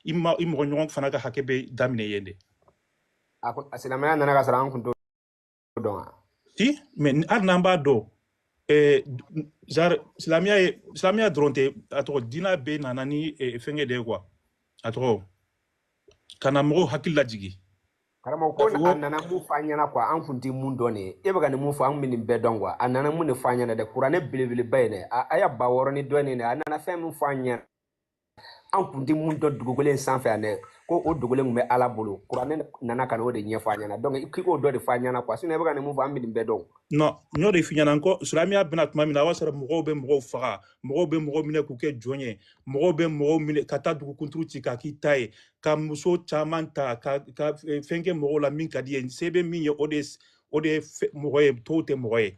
i ma i mɔgɔ ɲɔgɔn fana ka hakɛ bɛ daminɛ yen de a ko a silamɛya nana ka sɔrɔ an kun t'o dɔn wa si mais ni- hali n'an b'a dɔn eh, genre silamɛya ye silamɛya dɔrɔn tɛ a tɔgɔ diinɛ bɛɛ nana ni eh, fɛnkɛ de ye quoi a tɔgɔ ka na mɔgɔw hakili lajigin karamɔgɔ ko k'a fɔ a ko nana mun fɔ an ɲɛna quoi an kun tɛ mun dɔn de ye e bɛ ka nin mun fɔ an kun bɛ nin bɛɛ dɔn quoi a nana mun de fɔ an ɲɛna dɛ kuranɛ belebeleba ye dɛ a aya ba wɔɔrɔ ni dɔɔnin dɛ a nana fɛn min fɔ an ɲɛna an kun tɛ mun dɔn dugukolo in sanfɛ yan dɛ ko o dugukolo in tun bɛ ala bolo kuranɛ nana ka na o de ɲɛfɔ a ɲɛna donc k'i k'o dɔ de fɔ a ɲɛna quoi sinon i bɛ ka nin mun fɔ an bɛ nin bɛɛ dɔn non n y'o de f'i ɲɛna n ko silamɛya bɛna tuma min na a b'a sɔrɔ mɔgɔw bɛ mɔgɔw faga mɔgɔw bɛ mɔgɔw minɛ k'u kɛ jɔn ye mɔgɔw bɛ mɔgɔw minɛ ka taa dugu kunturu ci k'a k'i ta ye ka muso caman ta ka ka eh, fɛn kɛ mɔgɔw la min ka di i ye se bɛ min ye o de o de ye mɔgɔ ye tɔw tɛ mɔgɔ ye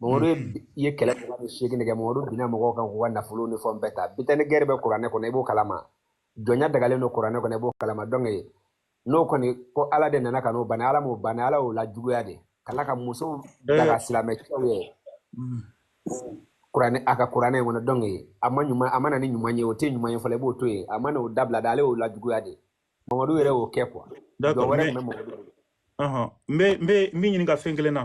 Mamadu ye bi- i ye kɛlɛ kɛlɛ biseegin kɛ Mamadu binna mɔgɔw kan k'u ka nafolo ni fɛnw bɛɛ ta butin de guerre bɛ kuranɛ kɔnɔ i b'o kalama jɔnya dagalen don kuranɛ kɔnɔ i b'o kalama donc n'o kɔni ko ala de nana ka n'o bana ala m'o bana ala y'o lajuguya de ka tila ka musow daga silamɛ cɛw ye kuranɛ a ka kuranɛ in kɔnɔ donc a ma ɲuman a ma na ni ɲuman ye o tɛ ɲuman ye fɔlɔ i b'o to yen a ma na o dabila de ale y'o lajuguya de mamadu yɛrɛ y'o kɛ quoi jɔn D'accord, wɛrɛ mais tun bɛ mamadu bolo. ɔhɔn, n bɛ n bɛ n b'i ɲininka fɛn kelen na.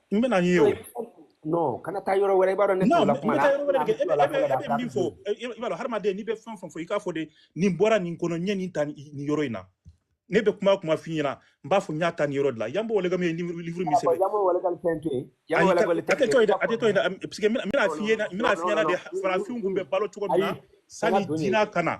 n bɛna n'i ye o non kana taa yɔrɔ wɛrɛ i b'a dɔn ne t'o la kuma na e bɛ min fɔ i b'a dɔn hadamaden n'i bɛ fɛn fɛn fɔ i k'a fɔ de nin bɔra nin kɔnɔ n ye nin ta nin yɔrɔ in na ne bɛ kuma kuma f'i ɲɛna n b'a fɔ n y'a ta nin yɔrɔ de la Yambo Ouologuem ye livre min sɛbɛn a tɛ to yen dɛ a tɛ to yen dɛ parce que n bɛna f'i ɲɛna n bɛna f'i ɲɛna de farafinw tun bɛ balo cogo min na sani diinɛ ka na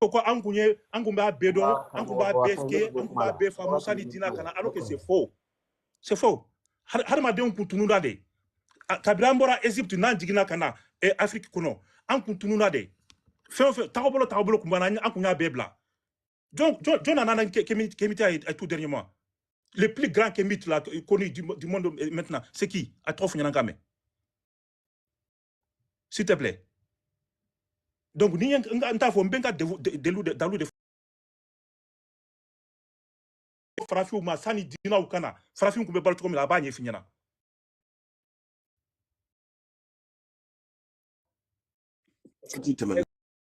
ko ko an kun ye an kun b'a bɛɛ dɔn an kun b'a bɛɛ kɛ an kun b'a bɛɛ faamu sani dina ka na alors que c'est faux c'est faux Har- hadamadenw kun tununa de A- kabiri an bɔra egypte n'an jiginna ka na eh, afrique kɔnɔ an kun tununa de fɛn o fɛn tagabolo tagabolo kun banna an ye- an kun y'a bɛɛ bila jɔn jɔn jɔn nana n'an ke- kemi- kemite ye eh, tout dernièrement le plus grand kemite la eh, connu du, mo- du monde eh, maintenant c'est qui a tɔgɔ fɔ n ɲɛna n k'a mɛn s'il te plaît donc n ye n ta fɔ n bɛ n ka delu dalu de farafinw ma sani dinaw ka na farafinw tun bɛ balo cogo min na a b'a ɲɛf'i ɲɛna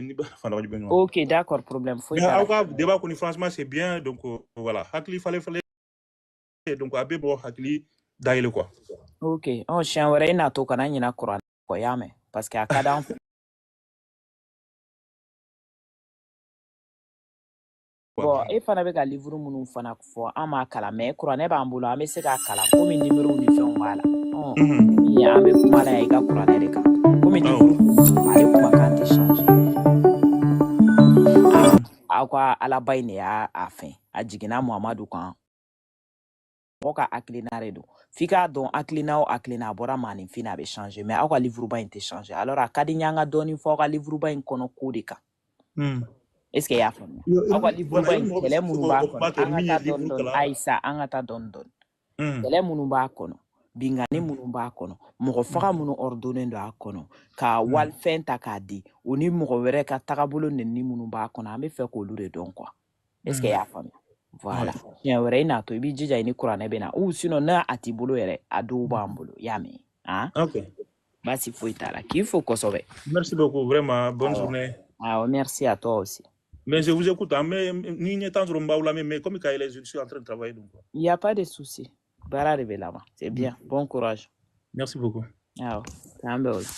ni ba fana wajibi ɲɔgɔn ok d'accord problème foyi mais aw ka débat kɔni franchement c'est bien donc euh, voilà hakili falen falen donc a bɛ mɔgɔ hakili dayɛlɛ quoi ok ɔ oh, siɲɛ wɛrɛ i n'a to kana ɲina kuran kɔ y'a mɛn parce que a ka d'an bon e fana bɛ ka livuru minnu fana fɔ an m'a kalan mais kuranɛ b'an bolo an bɛ se k'a kalan komi nimero ni fɛnw b'a la an bɛ kuma la i ka kuranɛ de kan komi ala kumakan tɛ changer aw ka alaba in de y'a a fɛn a jiginna muhamadu kan mɔgɔ ka hakilina de don f'i k'a dɔn hakilina o hakilina a bɔra maaninfin na a bɛ changer mais aw ka livuruba in tɛ changer alors a ka di n ye an ka dɔɔni fɔ aw ka livuruba in kɔnɔ ko de kan hmm. est ce que i y'a faamuya aw ka livuruba in kɛlɛ minnu b'a kɔnɔ an ka taa dɔɔni dɔɔni ayi sa an ka taa dɔɔni dɔɔni kɛlɛ minnu b'a kɔnɔ binkanni hmm. minnu b'a kɔnɔ mɔgɔfaga hmm. minnu ordonné don a kɔnɔ ka hmm. walifɛn ta k'a dun ni mɔgɔ wɛrɛ ka tagabolo nɛni minnu b'a kɔnɔ an b'a fɛ k'olu de dɔn quoi est-ce que i y'a faamuya voilà siɲɛ wɛrɛ i n'a to i b'i jija i ni kuranɛ bɛ na ou sinon n'a a t'i bolo yɛrɛ a dɔw b'an bolo i y'a mɛn han ok baasi foyi t'a la k'i fo kosɛbɛ merci beaucoup vraiment bonne awɔ journée awɔ merci à toi aussi mais je vous écoute an bɛ ni n ye temps sɔrɔ n b'aw lamɛn mais comme ka yɛlɛn je suis en train de travailler donc il y a pas de souci baara de bɛ laban c'est bien mm. bon courage merci beaucoup awɔ k'an bɛn o la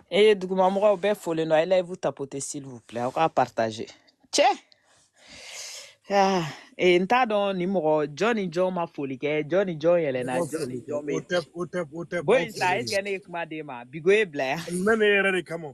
e ye dugumamɔgɔw bɛɛ folen don a ye live tapoter s'il vous plaît aw k'a partager cɛ ah, e, n t'a dɔn ni mɔgɔ jɔn ni jɔn ma foli kɛ jɔn ni jɔn yɛlɛnna jɔn ni jɔn bɛ yen bon in sa est-ce que ne ye kuma d'e ma bigo ye bila yan n bɛ ne yɛrɛ de kama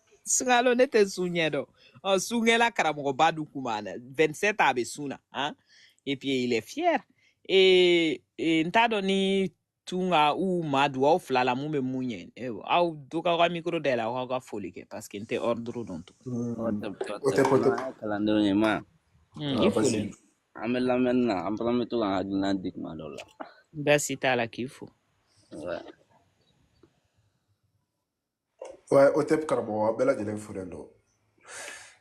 sunkalo ne tɛ sun ɲɛ dɔn ɔ sunkɛla karamɔgɔba dun kun b'a la 27 a bɛ sun na han et puis il est fier et, et n t'a dɔn ni tunka ou amadu aw fila la mun bɛ mun ɲɛ Eh, aw dun k'aw ka mikoro dayɛlɛ aw k'aw ka foli kɛ parce que n tɛ ordre dɔn tun o tɛ o o tɛ tɛ ko tɛ kuma kalandenw ye ma Hmm, i aa foli basi an bɛ lamɛnni na an fana bɛ to k'an hakilina di kuma dɔw la baasi t'a la k'i fo Ouais. Ouais, o tɛ karamɔgɔ aw bɛɛ lajɛlen folen don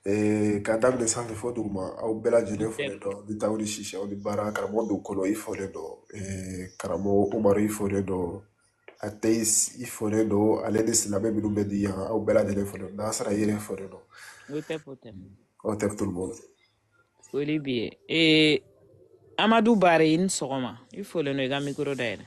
Eh, k'a daminɛ sanfɛ fo duguma aw bɛɛ lajɛlen folen don ni tawuli sisi aw ni baara karamɔgɔ donkolo i folen don Eh, karamɔgɔ umaru i folen don athéiste i folen don ale ni silamɛ minnu bɛ di yan aw bɛɛ lajɛlen folen don nasara yɛrɛ folen don o tɛ ko tɛ aw tɛ tulu bɔ foli b'i ye ee amadu bari i ni sɔgɔma i folen don i ka mikoro dayɛlɛ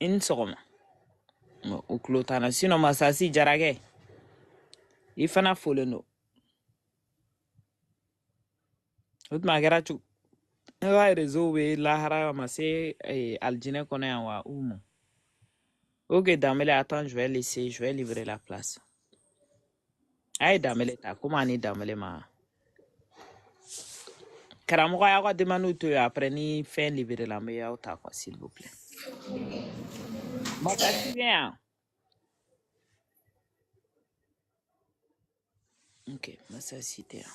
i ni sɔgɔma Bon, o tulo t'an na sinon masasi jarakɛ i fana folen don o tuma a kɛra cogo ne ka réseau bɛ lahara a ma se eh, alijinɛ kɔnɔ yan wa u ma ok danbele attends je vais laisser je vais livrer la place a ye danbele ta komi a ni danbele ma karamɔgɔ y'aw ka demandiw to yen après ni fɛn liberela n bɛ y'aw ta quoi s'il vous plaît Mɔgɔ si bɛ yan ok masa si tɛ yan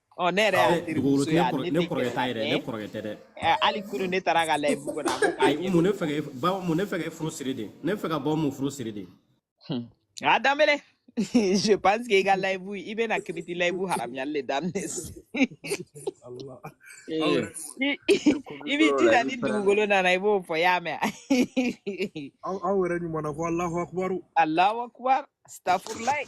ɔ ne yɛrɛ y'a teri muso ye a ne tɛ kɔrɔkɛ ta yɛrɛ ne kɔrɔkɛ tɛ dɛ hali kunun ne taara ka layibu kɔnɔ ayi mun ne fɛ ka ba mun ne fɛ ka furu siri de ne fɛ ka bɔ mun furu siri de a danbele je pense que i ka layibu i bɛna kiriti layibu haramuyali le daminɛ i b'i jija ni dugukolo nana i b'o fɔ y'a mɛn aw yɛrɛ ɲuman na ko alahu akubaru alahu akubaru stafurulayi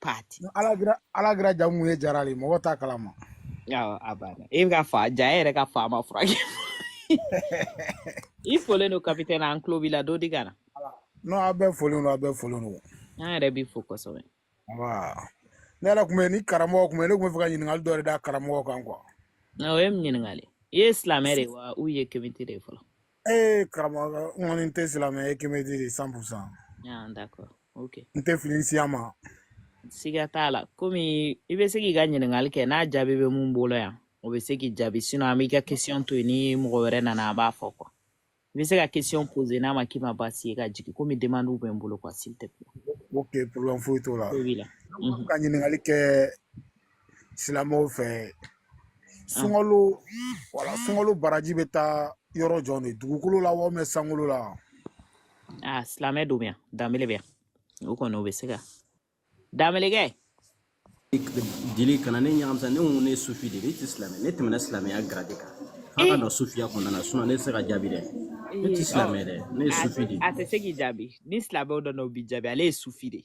party ala kira ala kira jamu ye jara de mɔgɔ t'a kalama awɔ a banna e bɛ ka fa ja e yɛrɛ ka fa ma furakɛ i folen don kapitɛni an tulo b'i la dɔ di ka na non a bɛɛ folen don a bɛɛ folen don an yɛrɛ b'i fo kosɛbɛ wa ne yɛrɛ tun bɛ ni karamɔgɔ tun bɛ ne tun b'a fɛ ka ɲininkali dɔ de da karamɔgɔ kan quoi na o ye min ɲininkali i ye silamɛ de ye wa ou i ye kemite de ye fɔlɔ Ee karamɔgɔ n kɔni tɛ silamɛ ye kemite de cent pour cent Ah, d'accord. Ok. n tɛ fili siya ma Siga t'a la. Komi i bɛ se k'i ka ɲininkali kɛ n'a jaabi bɛ min bolo yan, o bɛ se k'i jaabi. Sinon an b'i ka question to yen ni mɔgɔ wɛrɛ nana a b'a fɔ quoi. I bɛ se ka question poser n'a ma k'i ma baasi ye ka jigin komi demande bɛ n bolo quoi s'il te plaît. ok problème foyi t'o la Ko b'i la. Mhm. ka ɲininkali kɛ silamɛw fɛ sunkalo wala sunkalo baraji bɛ taa yɔrɔ jɔn de dugukolo la walima sankolo la aa silamɛ don yan danbele bɛ yan o kɔni o bɛ se ka danbelekɛ deli kana ne ɲagami sa ne ko ne sufi de ne tɛ silamɛ ne tɛmɛna silamɛya garadi kan an ka don sufiya kɔnɔna na sinɔn ne tɛ se ka jaabi dɛ ne tɛ silamɛ dɛ ne ye sufi de a tɛ se k'i jaabi ni silamɛw don o b'i jaabi ale ye sufi de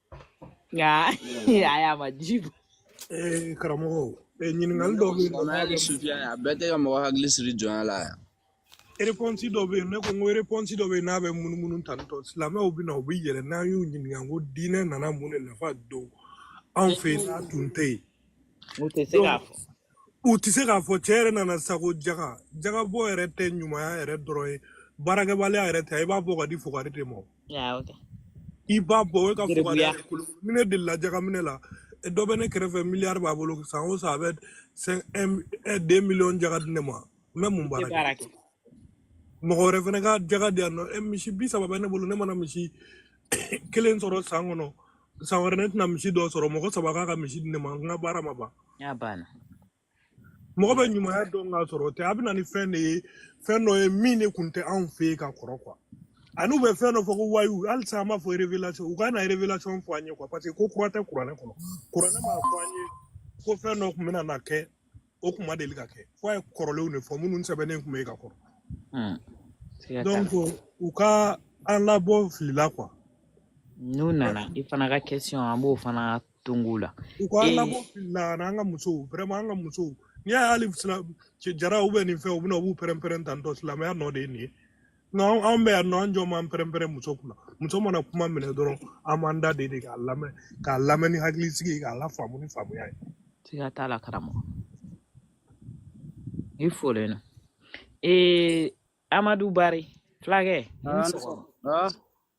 nka a y'a ma ji bɔ ee karamɔgɔ ee ɲininkali dɔw bɛ yen nɔ N'a kɛ sufiya ye a bɛɛ tɛ ka mɔgɔ hakili siri jɔnya la yan réponse dɔ bɛ yen ne ko n ko réponse dɔ bɛ yen n'a bɛ munumunu tantôt silamɛw bɛ na u bɛ yɛlɛ n'an y'u ɲininka ko diinɛ nana mun de nafa don anw fɛ yen n'a tun tɛ yen U tɛ se k'a fɔ. U tɛ se k'a fɔ cɛ yɛrɛ nana sa ko jaga jagabɔ yɛrɛ tɛ ɲumanya yɛrɛ dɔrɔn ye baarakɛbaliya yɛrɛ tɛ i b'a bɔ ka di fugari de ma i b'a bɔ o ka fugari ni ne delila jagaminɛ la dɔ bɛ ne kɛrɛfɛ miliyari b'a bolo san o san a bɛ dix millions jaga di ne ma n bɛ mun baara kɛ mɔgɔ wɛrɛ fana ka jaga di yan nɔ ɛ misi bi saba bɛ ne bolo ne mana misi kelen sɔrɔ san kɔnɔ san wɛrɛ ne tɛna misi dɔ sɔrɔ mɔgɔ saba k'a ka misi di ne ma n ka baara ma ban Y'a banna. mɔgɔ bɛ ɲumanya dɔn k'a sɔrɔ o tɛ a bɛ na ni fɛn de ye fɛn dɔ ye min de kun tɛ anw fɛ yen ka kɔrɔ kuwa ani u bɛ fɛn dɔ fɔ ko wayu halisa an b'a fɔ revelation u ka na revelation fɔ an ye kuwa parce que ko kura tɛ kuranɛ kɔnɔ kuranɛ m'a fɔ an ye ko fɛn dɔ tun bɛna na kɛ o tun ma deli ka kɛ fo a ye kɔrɔlenw de fɔ minnu sɛbɛnnen tun bɛ yen ka kɔrɔ hmm. donc u ka an labɔ fili la kuwa n'u nana i fana ka question an b'o fana tongu la u ka an eh. labɔ fili la ani an ka musow vraiment an ka musow n'i y'a ye hali jara u bɛ yen nin fɛ u bɛna u b'u pɛrɛn-pɛrɛn tantɔ silamɛya nɔ de ye nin ye non an bɛ yan nɔ an jɔ man pɛrɛnpɛrɛn muso kunna muso mana kuma minɛ dɔrɔn an b'an da de de k'a lamɛn k'a lamɛn ni hakilisigi ye k'a lafaamu ni faamuya ye siga t'a la karamɔgɔ i folen no ee amadu bari fulakɛ i ni sɔgɔma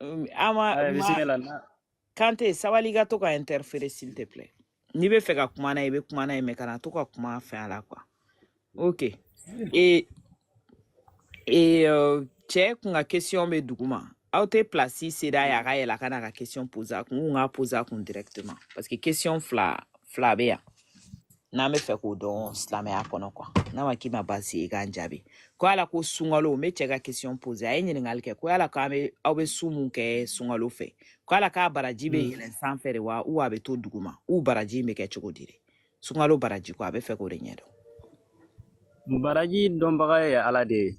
Um, an ma Ayi, ma bisimila na kante sabali i ka to ka interfere s'il te plaît n'i bɛ fɛ ka kuma n'a ye i bɛ kuma n'a ye mais kana to ka kuma a fɛ a la quoi ok et et euh, cɛ kun ka question bɛ duguma aw tɛ place céder a ye a ka yɛlɛn a ka n'a ka question poser a kun n kun k'a poser a kun directement parce que question fila fila bɛ yan n'an bɛ fɛ k'o dɔn silamɛya kɔnɔ kuwa n'a ma k'i ma baasi ye i k'an jaabi ko yala ko sunkalo n bɛ cɛ ka kesiyɔn poze a ye ɲininkali kɛ ko yala k'an bɛ aw bɛ sun mun kɛ sunkalo fɛ ko yala k'a baraji bɛ yɛlɛn sanfɛ de wa ou a bɛ to duguma ou baraji in bɛ kɛ cogo di de sunkalo baraji ko a bɛ fɛ k'o de ɲɛdɔn baraji dɔnbaga ye ala de ye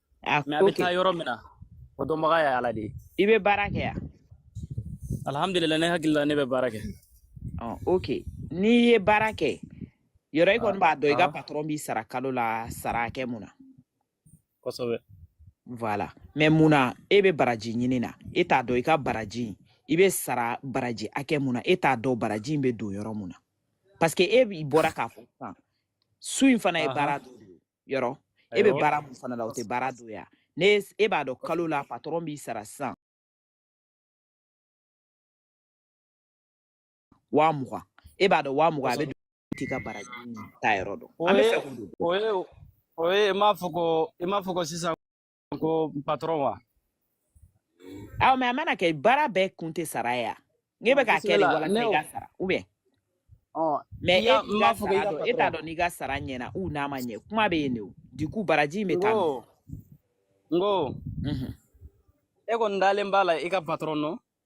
a mais a ko bɛ kɛ taa yɔrɔ min na o dɔnbaga ye ala de ye i bɛ baara kɛ yan alihamudulila ne hakili la ne bɛ baara kɛ ɔ ok n'i ye baara kɛ yɔrɔ i kɔni b'a dɔn i ka aa patɔrɔn b'i sara kalo la sara hakɛ mun na kosɛbɛ voilà mais mun na e bɛ baraji ɲinina e t'a dɔn i ka baraji in, i bɛ sara baraji hakɛ mun na e t'a dɔn baraji in bɛ don yɔrɔ mun na parce que e b'i bɔra k'a fɔ sisan sun in fana ye ahan baara dɔ de ye yɔrɔ e bɛ baara mun fana la o tɛ baara dɔ ye ne e b'a dɔn kalo la patɔrɔn b'i sara sisan waa mugan e b'a dɔn waa mugan a bɛ t'i ka baraji in taa yɔrɔ dɔn an bɛ fɛ k'o dɔn o ye o ye i m'a fɔ ko i m'a fɔ ko sisan ko patɔrɔn wa aw mais a mana kɛ baara bɛɛ kun tɛ sara ye a n'e bɛ k'a kɛ de walasa i ka sara u bɛ mais e t'i ka sara dɔn e t'a dɔn n'i ka sara ɲɛna ou n'a ma ɲɛ kuma bɛ yen de o du coup baraji in bɛ taa n ko e kɔni dalen b'a la i ka patɔrɔn nɔ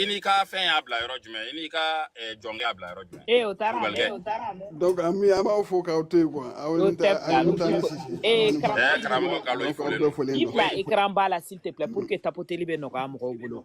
I n'i ka fɛn y'a bila yɔrɔ jumɛn i n'i ka jɔnkɛ y'a bila yɔrɔ jumɛn ee o taara an bɛ an b'aw fo k'aw to yen quoi aw ni ta aw ni ta ni sisi ee karamɔgɔ kalo i fo i bila écran ba la s'il te plaît pour que tapoteli bɛ nɔgɔya mɔgɔw bolo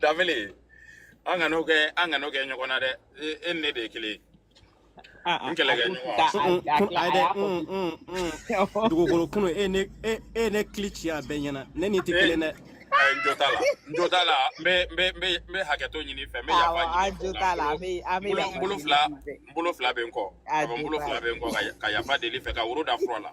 dafili an kan'o kɛ an kan'o kɛ ɲɔgɔn na dɛ e e ni ne de ye kelen ye Ah, ah, n kɛlɛ kɛ ɲɔgɔn a- Mm, a- kun- a- ayi dɛ, a- mm, mm, mm. dugukolo kunu e ne e e ne kili ci a bɛɛ ɲɛna ne ni tɛ Eh. kelen dɛ Ayi, n jo t'a la n jo t'a la n bɛ n bɛ n bɛ n bɛ hakɛto ɲini i fɛ n bɛ yafa Awɔ, ɲini an i fɛ jo o t'a la, an bɛ- an bɛ bolo yafa n bolo ɲini fila i fɛ. n bolo fila bɛ n kɔ A a bɛ n jo bolo t'a fila la. bɛ n kɔ ka ya- ka yafa deli i fɛ ka woro da fura la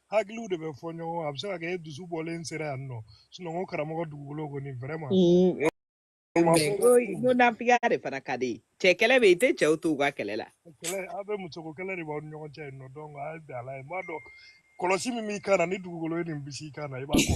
hakiliw de bɛ fɔ ɲɔgɔn a bɛ se ka kɛ e dusu bɔlen sera yan non sinon karamɔgɔ dugukolo kɔni vraiment nafiya de fana ka di cɛ kɛlɛ bɛ i tɛ cɛw to u ka kɛlɛ la aw bɛ musoko kɛlɛ de b'aw ni ɲɔgɔn cɛ yen non donc a ye bɛn ala ye n b'a dɔn kɔlɔsi min b'i kan na ni dugukolo ye nin bisi i kan na i b'a kɔ